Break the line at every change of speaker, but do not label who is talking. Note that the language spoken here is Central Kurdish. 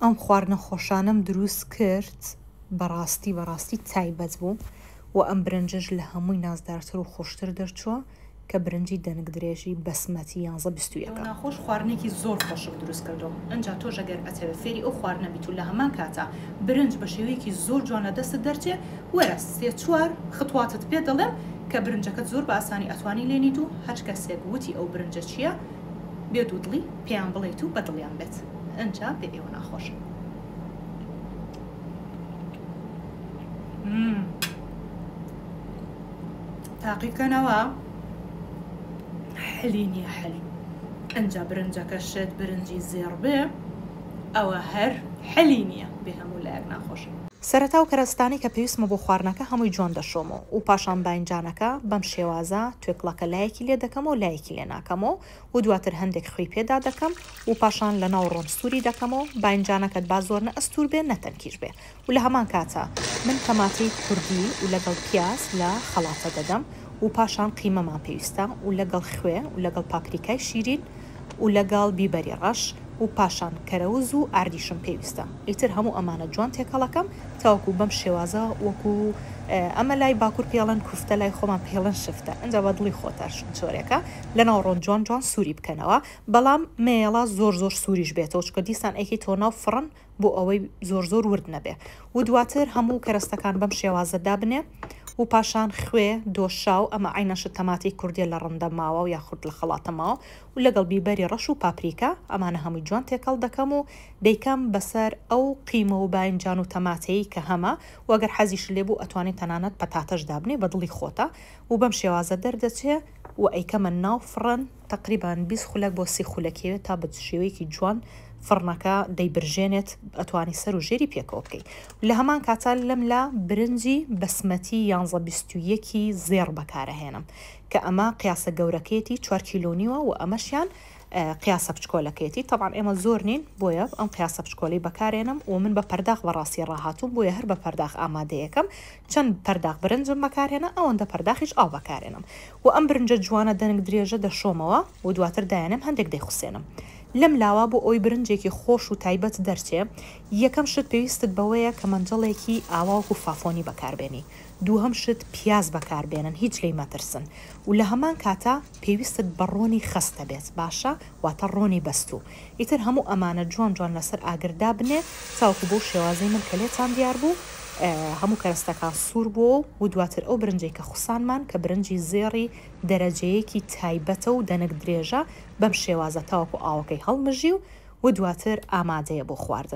ئەم خواردنە خۆشانەم دروست کرد بەڕاستی بەڕاستی تایبەت بوو وە ئەم برنجەش لە هەمووی نازدارتر و خۆشتر دەرچووە کە برنجی دەنک درێژی بەسمەتی یانزە بیست و یەکە. ناخۆش خواردنێکی
زۆر خۆشم دروست کردووە ئنجا تۆش ئەگەر ئەتەوێ فێری ئەو خواردنە بیت و لە هەمان کاتا برنج بە شێوەیەکی زۆر جوان لە دەستت دەرچێ وەرە سێ چوار خطواتت پێ دەڵێم کە برنجەکەت زۆر بە ئاسانی ئەتوانی لێنیت و هەچ کەسێک وتی ئەو برنجە چیە بێ دوو دڵی پێیان بڵێیت و بەدڵیان بێت ئەنجا بێ ئێوە ناخۆشە. مم. تاقیکەنەوە حلی نییە حلی ئەنجا برنجەکە شێت برنجی زێڕ بێ ئەوە هەر حلی نییە بێ هەموو لایەک ناخۆشە. سەرەتا و کەرەستانەی
کە پێویستمە بۆ خواردنەکە هەمووی جوان دەشۆم و پاشان باینجانەکە بەم شێوازە توێکڵەکە لایەکی لێ دەکەم و لایەکی لێ ناکەم و و دواتر هەندێک خوێی پێ دادەکەم و پاشان لە ناو ڕۆن سووری دەکەمەوە، باینجانەکەت با زۆر نە ئەستوور بێ نە تەنکیش بێ و لە هەمان کاتا من تەماتەی کوردی و لەگەڵ پیاز لە خەڵاتە دەدەم و پاشان قیمەمان پێویستە و لەگەڵ خوێ و لەگەڵ پاپریکای شیرین و لەگەڵ بیبەری ڕەش و پاشان کەرەوز و ئاردیشم پێویستە ئیتر هەموو ئەمانە جوان تێکەڵەکەم تاوەکو بەم شێوازە وەکو ئەمە لای باکوور پێڵێن کوفتە لای خۆمان پێڵێن شفتە ئنجا بە دڵی خۆتە چۆرێکە. لە ناوڕۆن جوان جوان سوری بکەنەوە بەڵام مەیەڵا زۆر زۆر سوریش بێتەوە چکە دیسان ئەیکەیتەوە ناو فڕن بۆ ئەوەی زۆر زۆر ورد نەبێ و دواتر هەموو کەرەستەکان بەم شێوازە دابنێ و پاشان خوێ دۆشاو ئەمە عەینەشت تەماتەی کوردیە لە ڕندە ماوە و یاخود لە خەڵاتە ماوە و لەگەڵ بیبەری ڕەش و پاپریکا ئەمانە هەمووی جوان تێکەڵ دەکەم و دەیکەم بەسەر ئەو قیمە و باینجان و تەماتەی کە هەمە و گەر حەزیشت لێ بوو ئەتوانی تەنانەت پەتاتەش دابنێ بە دڵی خۆتە و بەم شێوازە دەردەچێ و ئەیکەمە ناو فڕن تەقریبان بیست خولەک بۆ سی خولەک یەوێت تا بە شێوەیەکی جوان فڕنەکە دەیبرژێنێت ئەتوانی سەر و ژێری پێکەوە بکەی و لە هەمان کاتا لەم لا برنجی بەسمەتی یانزە بیست و یەک ی زێڕ بەکارەهێنم کە ئەمە قیاسە گەورەکەیەتی چوار کیلۆ و نیوە و ئەمەشیان قیاسە بچکۆلەکەیەتی تەبعەن ئێمە زۆر نین بۆیە ئەم قیاسە بچکۆلەی بەکارێنم و من بە پەرداخ بەڕاستی ڕاهاتووم بۆیە هەر بە پەرداخ ئامادەیەکەم چەند پەرداخ برنجم بەکارهێنا ئەوەندە پەرداخیش ئاو بەکارێنم و ئەم برنجە جوانە دەنک درێژە دەشۆمەوە و دواتر دایەنێم هەندێک دەیخوسێنم لەم لاوە بۆ ئەوەی برنجێکی خۆش و تایبەت دەرچێ یەکەم شت پێویستت بەوەیە کە مەنجەڵێکی ئاوا وەکو فافۆنی بەکاربێنی دووهەم شت پیاز بەکاربێنن هیچ لێی مەترسن و لەهەمان کاتا پێویستت بە ڕۆنی خەستە بێت باشە واتە ڕۆنی بەستوو. ئیتر هەموو ئەمانە جوان جوان لەسەر ئاگر دابنێ تاوەکو بەو شێوازەی من کە لێتان دیار بوو هەموو کەرەستەکان سوور بووە و دواتر ئەو برنجەی کە خوسانمان کە برنجی زێڕی دەرەجەیەکی تایبەتە و دەنک درێژە بەم شێوازە تاوەکو ئاوەکەی هەڵمژی و دواتر ئامادەیە بۆ خواردن.